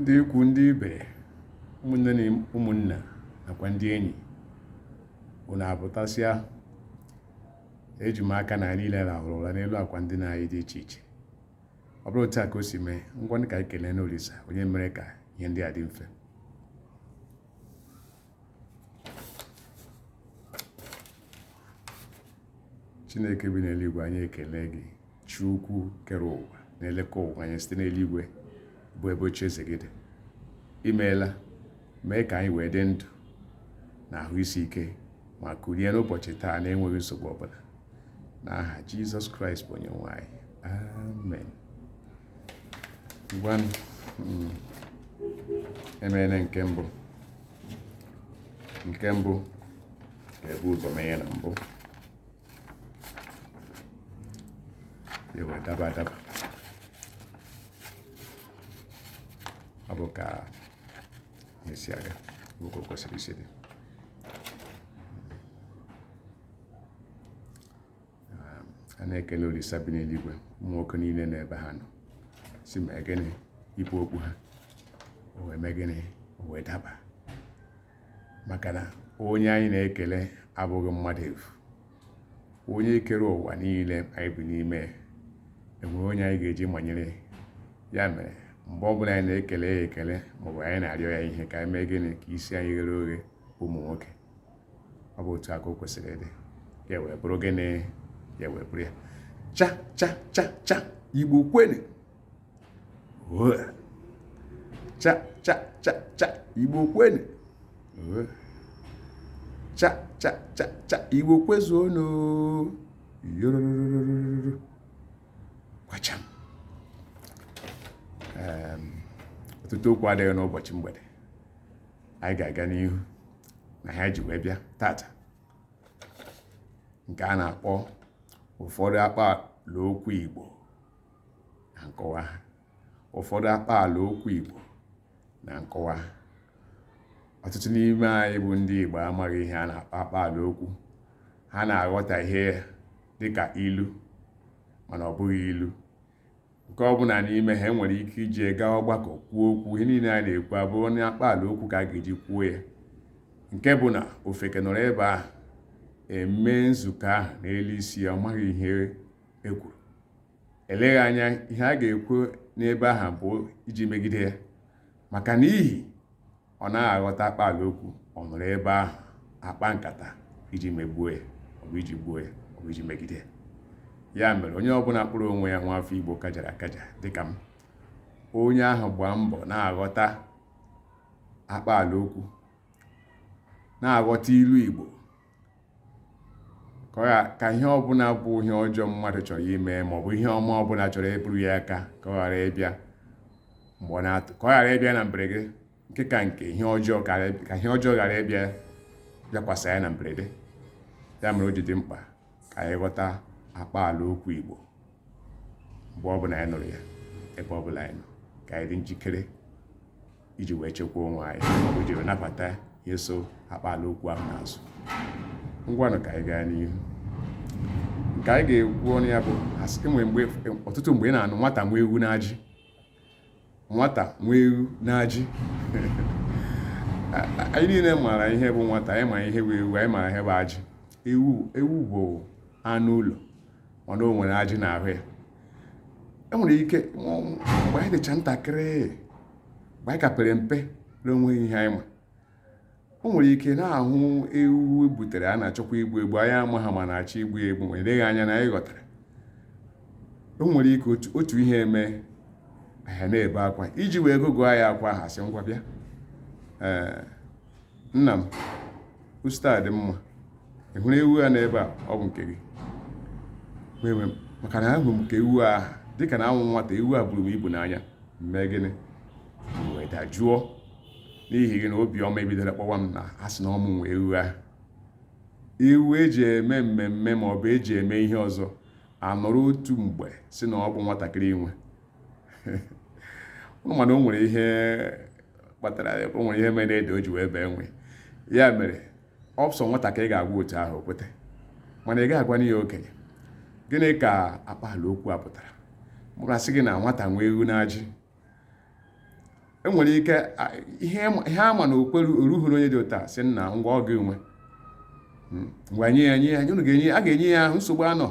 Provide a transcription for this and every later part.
ndị ikwu ndị ibe ụmụnne na ụmụnna nakwa ndị enyi unu apụtasịa eji m aka na anyị niile rahụrụ ụra n'elu akwa ndina anyị dị iche iche ọ bụrụ otu a ka o si mee ngwa ka anyị keleenụ olisa onye mere ka ihe ndị a dị mfe chineke bi n'eluigwe anyị ekele gị chi ukwu kere ụwa na-elekọ ụwa anyị site n'eluigwe bụ ebe oche eze gị dị imeela mee ka anyị wee dị ndụ na ahụ isi ike ma kulie n'ụbọchị taa na-enweghị nsogbu ọbụla n'aha jizọs kraịst bụ onye nwe anyị amen ngwanụ mm, emeela nke mbụ nke mbụ ga-ebu ụzọ mee ya na mbụ ya wee daba adaba ọ bụ ka esi aga nwoke kwesịrị isi dị a na-ekele olisa bi n'eluigwe ụmụ nwoke niile na ebe ha nọ si mee gịnị ibu okpu ha o wee mee gịnị o wee daba maka na onye anyị na-ekele abụghị mmadụ efu onye kere ụwa niile anyị bi n'ime enwere onye anyị ga-eji manyere ya mere mgbe ọbụla anyị na-ekele ya ekele maọbụ anyị na-arịọ ya ihe ka anyị mee gịnị ka isi anyị ghere oghe ụmụ nwoke ọ bụ otu a ka o kwesịrị ịdị ya wee bụrụ gịnị ya wee bụrụ ya cha cha cha cha igbo kwenu cha cha cha cha igbo kwenu cha cha cha cha igbo kwezuonu yorororororo kwacham ọtụtụ okwu adịghị n'ụbọchị mgbede anyị ga-aga n'ihu n'ihe anyị ji wee bịa taata nke a na-akpọ ụfọdụ akpaala okwu Igbo na nkọwa ha ụfọdụ akpaala okwu Igbo na nkọwa ha ọtụtụ n'ime anyị bụ ndị Igbo amaghị ihe a na-akpọ akpaala okwu ha na-aghọta ihe a dịka ilu mana ọ bụghị ilu nke ọ bụla n'ime ha enwere ike iji gaa ọgbakọ kwuo okwu ihe niile a na-ekwu abụrụ na akpaala okwu ka a ga-eji kwuo ya nke bụ na ofeke nọrọ ebe ahụ eme nzukọ ahụ n'elu isi ya ọ maghị ihe ekwuru eleghị anya ihe a ga-ekwu n'ebe ahụ bụ iji megide ya maka n'ihi ọ naghị aghọta akpa ala okwu ọ nọrọ ebe ahụ akpa nkata iji megbuo ya ọ bụ iji gbuo ya ọ bụ iji megide ya ya mere onye ọbụla kpọrọ onwe ya nwa afọ igbo kajara akaja dịka m onye ahụ gbaa mbọ na-aghọta akpa ala okwu na-aghọta ilu igbo ka ọ ya ka ihe ọbụla bụ ihe ọjọọ mmadụ chọrọ ime ma ọ bụ ihe ọma ọbụla chọrọ eburu ya aka ka ọ ghara ịbịa mgbe ọ na-atụ ka ọ ghara ịbịa na mberede nke ka nke ihe ọjọọ ka ghara- ka ihe ọjọọ ghara ịbịa bịakwasị anyị na mberede ya mere o ji dị mkpa ka anyị ghọta akpa ala okwu Igbo mgbe ọbụla anyị nụrụ ya ebe ọbụla anyị nọ ka anyị dị njikere iji wee chekwaa onwe anyị maọbụ iji wee nabata ihe so akpaala okwu ahụ n'azụ ngwanụ ka anyị gaa n'ihu nke anyị ga-ekwu ọnụ ya bụ enwere mgbe ọtụtụ mgbe ị na-anụ nwata nwe ewu n'ajị nwata nwe ewu n'ajị anyị niile maara ihe bụ nwata anyị ma ihe bụ ewu anyị maara ihe bụ ajị ewu ewu bụ anụ ụlọ mana o nwere ajị n'ahụ ya o nwere ike mgbe anyị dịcha ntakịrị mgbe anyị ka pere mpe na onweghị ihe anyị ma o nwere ike na-ahụ ewu e butere a na-achọkwa igbu egbu anyị amaha ma a na-achọ igbu egbu ma eleghị anya na anyị ghọtara o nwere ike otu ihe emee anyị na-ebe akwa iji wee gụgụọ anyị akwa ha sị ngwa bịa ee nna m ositadịmma ị hụrụ ewu a n'ebe a ọ bụ nke gị were were maka na ahụrụ m ka ewu a dịka na awụ m nwata ewu a buru m ibu n'anya mee gịnị wee dajụọ n'ihi gịnị obiọma ebidoro kpawa m na a sị na ọ mụ nwe ewu ahụ ewu eji eme mmemme ma ọ bụ eji eme ihe ọzọ anọrọ otu mgbe sị na ọ bụ nwatakịrị nwe anụ mana o nwere ihe kpatara ya o nwere ihe mere ede o ji wee bee nwịị ya mere ọ bụ sọ nwata ka ị ga-agwa otu ahụ o kweta mana ị ga-agwa onye okenye gịnị ka akpaala okwu a pụtara ọ bụrụ a sị gị na nwata nwee ewu n'ajị enwere ike ihe ama na okwere o ruhuru onye dị otu a sị nna ngwa ọ gị nwe hmm, ngwa nye ya nye ya unu ga-enye a ga-enye ya ahụ nsogbu anọ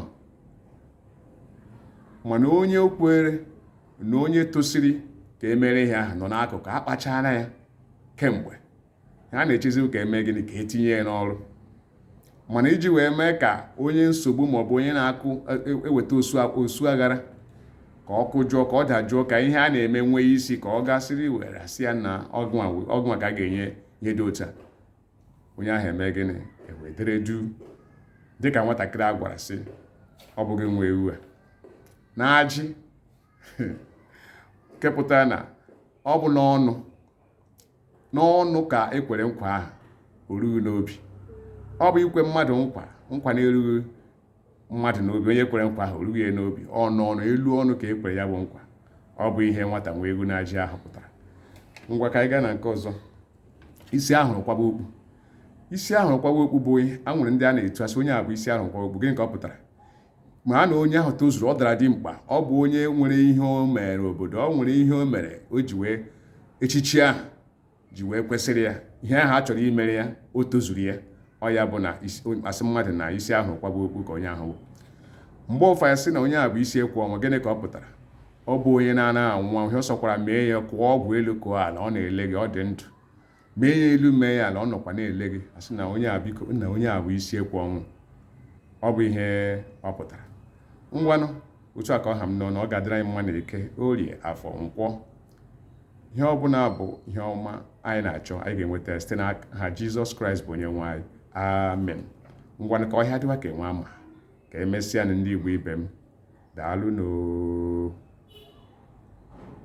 mana onye okwere na onye tosiri ka e mere ihe ahụ nọ n'akụkụ akpachara ya kemgbe ha na-echezi ka eme gịnị ka etinye ya n'ọrụ mana iji wee mee ka onye nsogbu maọbụ onye na-akụ eweta ọsụ aghara ka ọ kụjụọ ka ọ dajụọ ka ihe a na-eme nwee isi ka ọ gaa siriri werere sị ya na ọ gịnwa ka a ga-enye ihe dị otu a onye ahụ eme gịnị ewee dere juu dịka nwatakịrị a gwara sị ọ bụ gị nwe ewu a na ajị nke pụtara na ọ bụ n'ọnụ n'ọnụ ka e kwere nkwa ahụ orughị n'obi ọ bụ ikwe mmadụ nkwa nkwa na-erughị mmadụ n'obi onye kwere nkwa ahụ orughị ya n'obi ọnụ ọnụ elu ọnụ ka e kwere ya bụ nkwa ọ bụ ihe nwata nwa egwu na ajị ahụ pụtara ngwa ka anyị gaa na nke ọzọ isi a hụrụ kwaba okpu isi a hụrụ kwaba okpu bụ ihe e nwere ndị a na-etu a sị onye a bụ isi a hụrụ kwaba okpu gịnị ka ọ pụtara mara na onye ahụ tozuru ọ dara dimkpa ọ bụ onye nwere ihe o mere obodo ọ nwere ihe o mere o ji wee echichi ahụ ji wee kwesịrị ya ihe ahụ a chọrọ imere ya o tozuru ya ọ ya bụ na a sị mmadụ na isi a hụ kwaba okpu ka onye ahụ mgbe ụfọdụ sị na onye a bụ isi ekwe ọnwụ gịnị ka ọ pụtara ọ bụ onye na-anaghị anwụ anwụ ihe ọ sọkwara mee ya kọọ ọgwụ elu kọọ ala ọ na-ele gị ọ dị ndụ mee ya elu mee ya ala ọ nọkwa na-ele gị a sị na onye a biko na onye a bụ isi ekwe ọnwụ ọ bụ ihe ọ pụtara ngwanụ otu a ka ọ ha m n'ọnụ ọ ga-adịrị anyị mma na eke orie afọ nkwọ ihe ọ bụla bụ ihe ọma anyị na-achọ anyị ga-enweta site n'aha jizọs kraịst bụ onye nwe anyị amen ngwanụ ka ọhịa dịwa ka enwe ama ka emesịanụ ndị igbo ibe m daalụ nụ oo